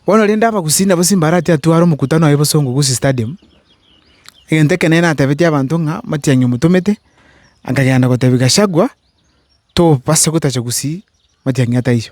Bono rende abagusii nabo Simbarati atware omokutano oye bosongo Gusii Stadium, egento ekenene atebetie abanto ng'a matiang'i omotomete, akagenda gotebia Gachagua, Tobase gotacha Gusii, matiang'i ataiyo.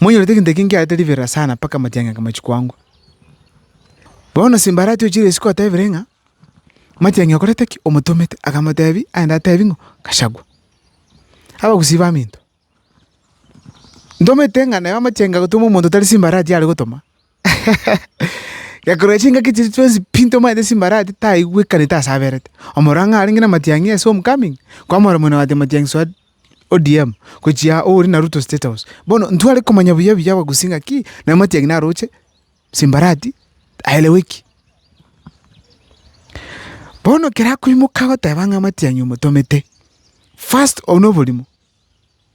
Monyorete egento eke nkiarete riberera sana mpaka amatiang'i ake machia koangwa. Bono simbarati ochire isiko otebire ng'a amatiang'i okorete ki? Omotomete. Akamotebi aende atebi ng'o? Gachagua. Abagusii baminto, ntomete ng'a naye amatiang'i agotoma omonto tari simbarati are gotoma. Gekorwa chingaki chiria chionsi pi ntomaete chimbarati taigwekanete ase aberete. Omorwao ng'a arenge namatiang'i ase Homecoming, kwamora Mwene oye ati amatiang'i soa ODM, gochia ore na Ruto State House. Bono ntware komanya buya buya abagusii ng'aki na amatiang'i naroche chimbarati aeleweki. Bono ekero akoimoka agoteba ng'a amatiang'i omotomete, first obu noborimo.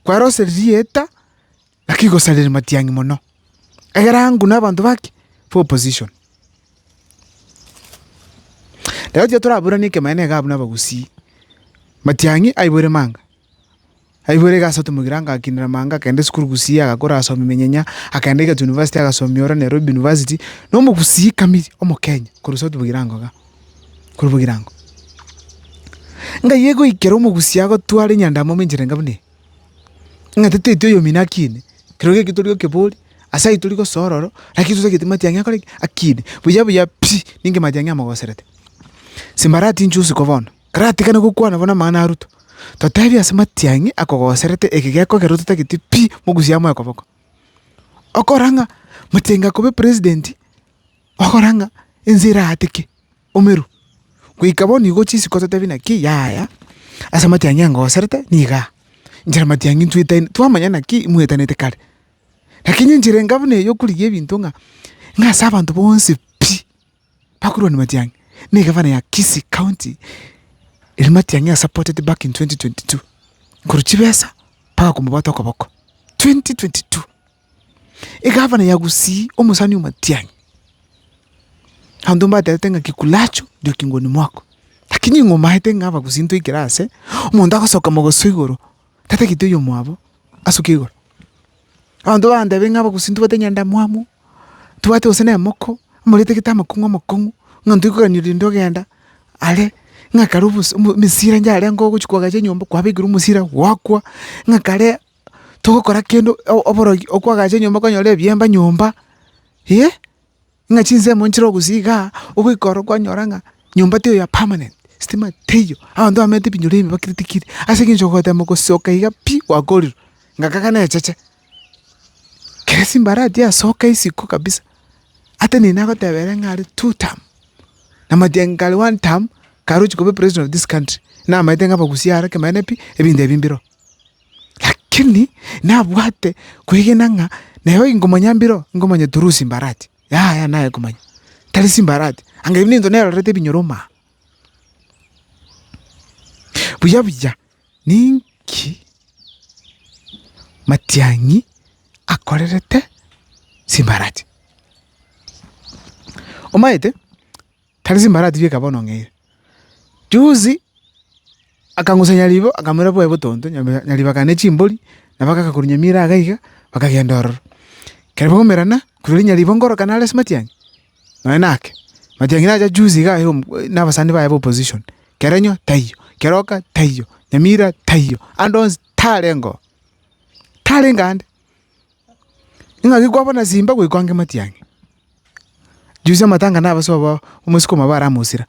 Kware ase ririeta, naki igosarire matiang'i mono, egere ang'u nabanto bake b'opposition. Rero tiga toraburanie ekemanyererio iga abwo nabagusii. Matiang'i aiboire manga, aiboire iga ase otomogera agakinera manga agakenda esukuru Gusii agakora agasomia emenyenya, agakenda Egerton University agasomia ororo Nairobi University, nomogusii kamiri omokenya korwa south Bugirango igaa. korwa bogirango. Ng'ai egoikera omogusii agotware enyandamo ime enchera enga buna eye? Ng'a toteti oyomino akine, kero geki tori gokebori, ase ayio tori gosoa ororo, lakini totagete matiang'i akore ki? Akine. Buya buya pi, ninki matiang'i amogoserete? Simbarati inche usiku bono, taratigana gokwana buna amang'ana a Ruto, totebi ase matiang'i akogoserete eke gekogera ototagete pi, mogusii amoe koboko. Okora ng'a matiang'i akobe president, Ogokora ng'a ense erateke omeru, goika bono igo chisiko ototebie naki yaya ase amatiang'i angoserete nigo aa, inche namatiang'i ntuetani twamanya naki mwetanete kare. Lakini enchera enga buna eyio okorigia ebinto ng'a ng'a ase abanto bonsi pi, bakorwania matiang'i, ne egavana ya Kisii county ere matiang'i a supported back in twenty twenty two, korwa chibesa mpaka komobwata okoboko, twenty twenty two. Egavana ya Gusii, omosani omatianyi, abanto mbaterete ng'a kikulacho ndio kingoni mwako, lakini ing'o omaete ng'a Abagusii ntoikere ase, omonto agosoka mogoso igoro, tatagete oyomwabo asoke igoro. Abanto bantebe ng'a Abagusii ntobwate nyandamwamu, ntobwate gose nemoko, amoretegete amakong'u amakong'u, ng'a ntoikogani rende ogenda are, ng'a kare obosi omo emesira ngiarengo ogochia koagacha enyomba kwabekerwa omosira gwakwa, ng'a kare. togokora kende oborogi okwagacha enyomba kwanyora ebiemba nyomba, eh, ng'a chinsemo nchire ogosia igaa, ogoika ororo kwanyora ng'a nyomba teiyo ya permanent, stima teiyo, abanto bamenyete ebinyoro ebi bakire tikiri, ase eng'encho ogotema gosoka iga pi gwakorire, ngaka kane echeche. Kere simbarati yasoka isiko kabisa, ata nini nagoteba ere ng'are two term, namatia ngare one term, karochi koba president of this country, namaete ng'abagusie are kemanyete pi, ebinto ebi mbiroo. Lakini nabwate kwegena ng'a nero inkomanya mbiro, inkomanya through chimbarati, yaya naye komanya, tari chimbarati, anga ebi nento nerorete ebinyoroma aa. Buya buya ninki Matiang'i akorerete chimbarati? Omaete. Tari chimbarati bieka bono ng'eire. Juzi akang'usa nyaribo akamoira bwaye botonto, nyaribo akagenda ne chimbori, nabo agaka korwa nyamira iga iga, bakagenda ororo. Ekero bagomerana, korende nyaribo nkoroka nare ase matiang'i? Nonya nake. Matiang'i nacha juzi iga aye na abasani baye b'opposition. Kerenyo taiyo, keroka taiyo, nyamira taiyo, ande onsi tarengoo. Tarenge aande. Ing'aki kwaba na simba goika oange matiang'i? Juzi amatanga nabaso abao omosike omobao aramosira,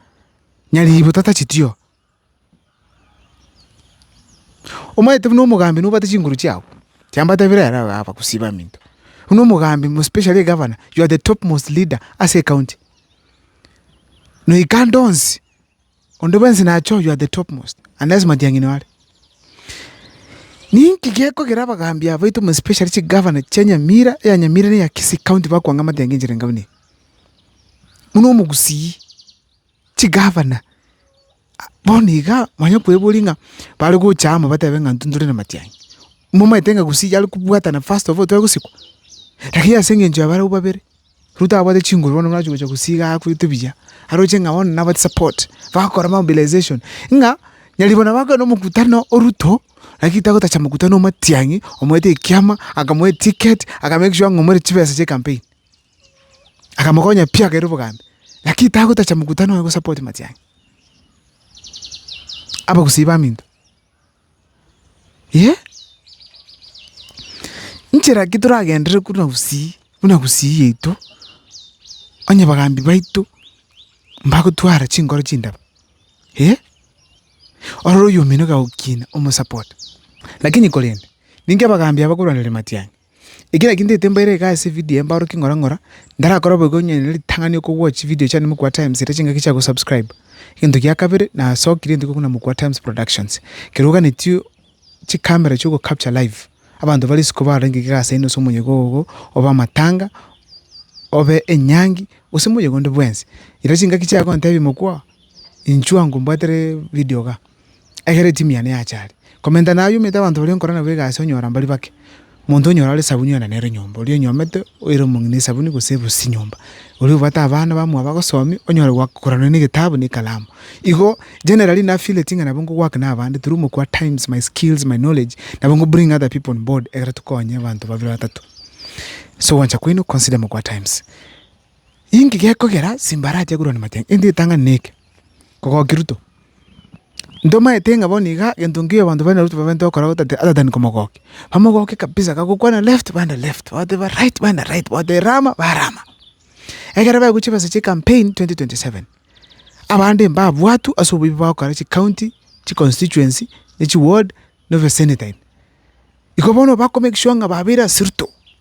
nyariibo tatacheti oo. Omanyete buna omogambi nobwate chinguru chiago, chiambatebire ere iga abagusii baminto, buna omogambi most especially egavana, you are the top most leader ase ecounty. Noika ande onsi. Onde bwensi nache oyio at the topmost, unless matiang'ini are. Ninki gekogera abagaambi abaito muna especially chigavana chia Nyamira, eya Nyamira na eya Kisii county bakwanga amatiang'ini enchera engabe neye? Buna omogusii, chigavana, bono iga mwanya kweboria ng'a bare gocha amo batebe ng'a intwe ntore namatiang'ini. Momanyete ng'a Gusii yare kobwatana first of all tore gosikwa? Lakini ase eng'encho ya barabwo babere. Ruto abwate chinguru bono buna chigocha gosiiga akweete buya, aroche ng'a bono nabwate support, bagokora mobilization ng'a nyaribona bakorire na omokutano o Ruto, lakini tagotacha mokutano o Matiang'i, omoete ekiama, akamoa etiketi, aka make sure ng'a omoreti chibesa chia ecampaign. Akamokonya pi akaira obogambi, lakini tagotacha mokutano oye gosupport Matiang'i. Abagusii baminto. Inche nchera ki toragenderere buna gusii, buna gusii yaito, onye bagambi baito mbagotwara chinkoro chindabu, eh? Ororo oyomino gagokina omosapote. Lakini korende, ninki abagambi aba bakorwanera matiang'i? Ekero nagentete mbaire iga ase evidio eye mbaorokie ng'ora ng'ora, ndarakore bobe iga onye nere ritang'ani oko watch evidio chiane Mokua Times eria chingaki chia gosubscribe. Egento gia kabere, nasokire entwe korwa Mokua Times Productions, ekero oganetie chicamera echio ogo capture live, abanto bare isiko barenge iga ase ase omoyega ogo, obe amatanga, obe enyangi, gose moyega onde bwensi. Erio chingaki chiago ntebia Mokua, inchuo ango mbwatere video iga. ekero etimu yane yachare. Komenta nayomete abanto baria nkora nabo egasi onyora mbari bake. Monto onyora ore esabuni onye nere nyomba, oria onyomete oire omong'ina esabuni gose ebusi nyomba. Oria obwate abana bamwabo agosomi onyore gwakoranire na egetabu na ekalamu. Igo generally na feel eting'a nabo nkowork na abande through omokua times, my skills, my knowledge, nabo nko bring other people on board ekero tokonye abanto babere batato. So gwancha kwaino consider mokua times. Inki gekogera simba arache korwa na machang'e? Gento getang'ani neke, kogokia Ruto. Ntomaete ng'a bono iga gento nkeiyo abanto baria na Ruto babwenerete gokora gotategete atatani komogokia. Bamogokie kabisa gagokwana left baende left, bagoteba right baende right, bagoteba rama barama. Ekero baigwa chibesa chia ecampaign twenty twenty seven, abande mbabwatu ase oboibi bagokora chicounty, chiconstituency, ne chiward, na obesenator ime. Igo bono bakomake sure ng'a babeire ase Ruto.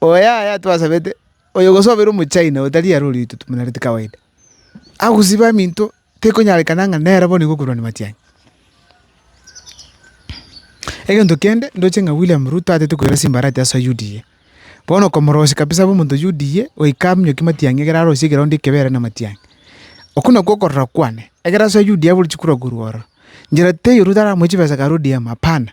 Oyaya twasabete, oyo gose obeire omochina otari aro oriri totumonareti kawaida, agosiba minto tekonyarekana ng'a nere bono nigo okorwania matiang'i. Egento kende ndoche ng'a William Ruto atete koira chimbarati ase UDA, bono okomorosia kabisa abe omonto UDA goika aminyokie matiang'i ekero arosie egeroundi ekebe ere na matiang'i. Okwo nakwo okorora kwane, ekero ase UDA abwo chikura korwa ororo, njera teiyo Ruto aramoe chibesa kare ODM, hapana.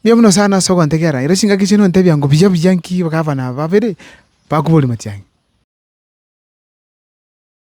Mbuya mono sana ase ogontegera, ere chingaki chiane ontebia ngo buya buya nki gavana aba babere bakoboria matiang'e.